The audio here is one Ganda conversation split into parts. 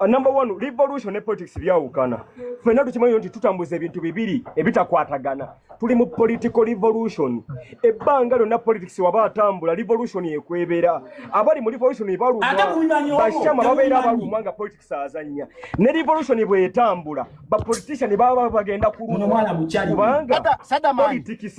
Uh, number one revolution ne politics byawukana fena tukimanyi nti tutambuza ebintu bibiri ebitakwatagana tuli mu political revolution ebbanga lyonna politics waba atambula revolution ekwebera abali mu revolution baluma bashama babeera baluma nga politics azanya ne revolution bwetambula bapolitician baba bagenda kuluma kubanga politics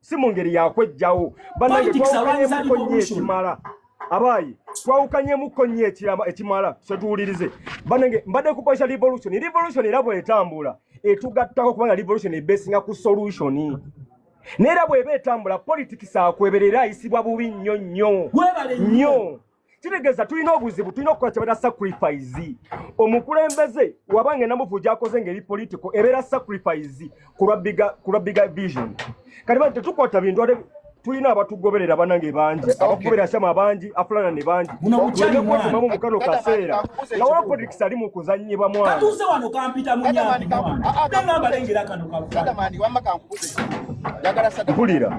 si mu ngeri yakwejjawo banange twawukanyemuko nnyo ekimala abaayi twawukanyemuko nnyo ekimala setuwulirize banange mbadde kukozesa revolution revolution era bwetambula etugattako kubanga revolution ebesinga ku solution neera bweba etambula politics akweberera ayisibwa bubi nnyo nnyo nnyo kitegeeza tulina obuzibu tulina okukola kyebata sacrifice omukulembeze waba ngenda mufu gyakoze ngaeri political ebeera sacrifice kulwa biga vision kati bani tetukwata bintu ate tulina abatugoberera banange bangi abakugobera shama bangi afulana ne bangi munomukyalimamu mukano kaseera nga wapolitikisi ali mu kuzanyibwa mwanatuuze wano kampita munyaambalengera kano kampulira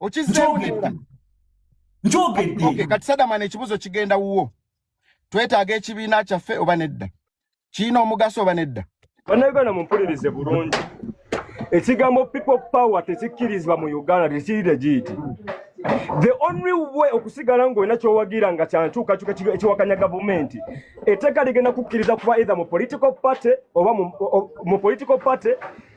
okizzeewulira njogedde okay, kati sadamana ekibuzo kigenda wuwo twetaaga ekibiina kyaffe oba nedda kirina omugaso oba nedda bannayuganda mumpulirize bulungi ekigambo people power tekikkirizibwa mu uganda tekiri regiiti the only way okusigala ng'olina kyowagira nga kyankyukakyuka ekiwakanya gavumenti eteeka ligenda kukkiriza kuba either mu political party oba mu political party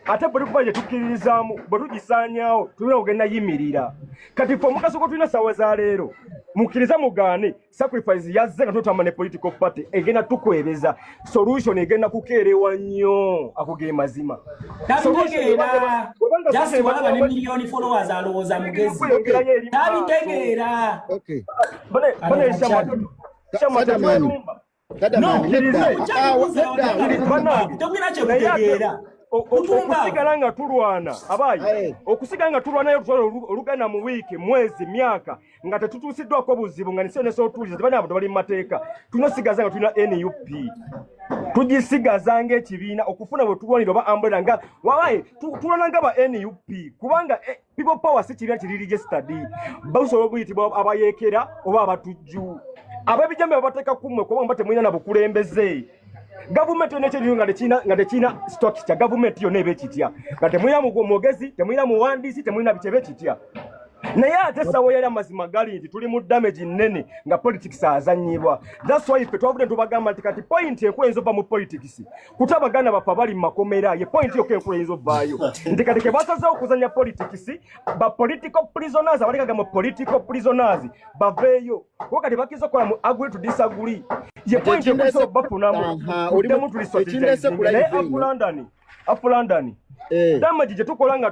ate buli kuba gyetukkiririzaamu bwe tugisaanyawo tulina okugenda yimirira kati fe omugaso gwe tulina saawa za leero mukkiriza mugaane sacrifice yazze nga tutamba ne political party egenda tukwebeza solution egenda kukeerewa nnyo ako ge mazima tabitegeera okusigala nga tulwana abaayi eh. okusigala nga tulwana yolutwala olugana mu wiiki mwezi myaka nga tetutuusiddwako buzibu nga nisenesotuuliza tebani abo tebali mu mateeka tulina osigaza nga tulina nup tugisigazanga ekibiina okufuna bwe tulwanira oba ambulera nga wabaye tulwana nga ba nup kubanga eh, people power si kibi kiri registered basobola okuyitibwa abayekera oba abatujju abebijambe babateka kumwe kuba mba temulina na bukulembeze gavumenti yona ekyeriyo nga tekina nga tekina stock kya gavumenti yona ebe kitya nga temulina mugwo mwogezi temulina muwandiisi temulina bikyebe kitya naye ate sawo yali amazima gali nti tuli mu damage nnene nga politics azanyibwa thats why fe twavudde ntubagamba nti kati point enkulu eyinza ova mu politics kutabagana bafa bali mu makomera ye point yokka enkulu eyinza ovaayo nti kati ke basazeewo okuzanya politics ba political prisoners abalekaga mu political prisoners baveeyo kuba kati bakiza okukola mu agree to disagree ye point ekusa obafunamu uddemu tulisotinaye afu london afu london eh. damagi gye tukola nga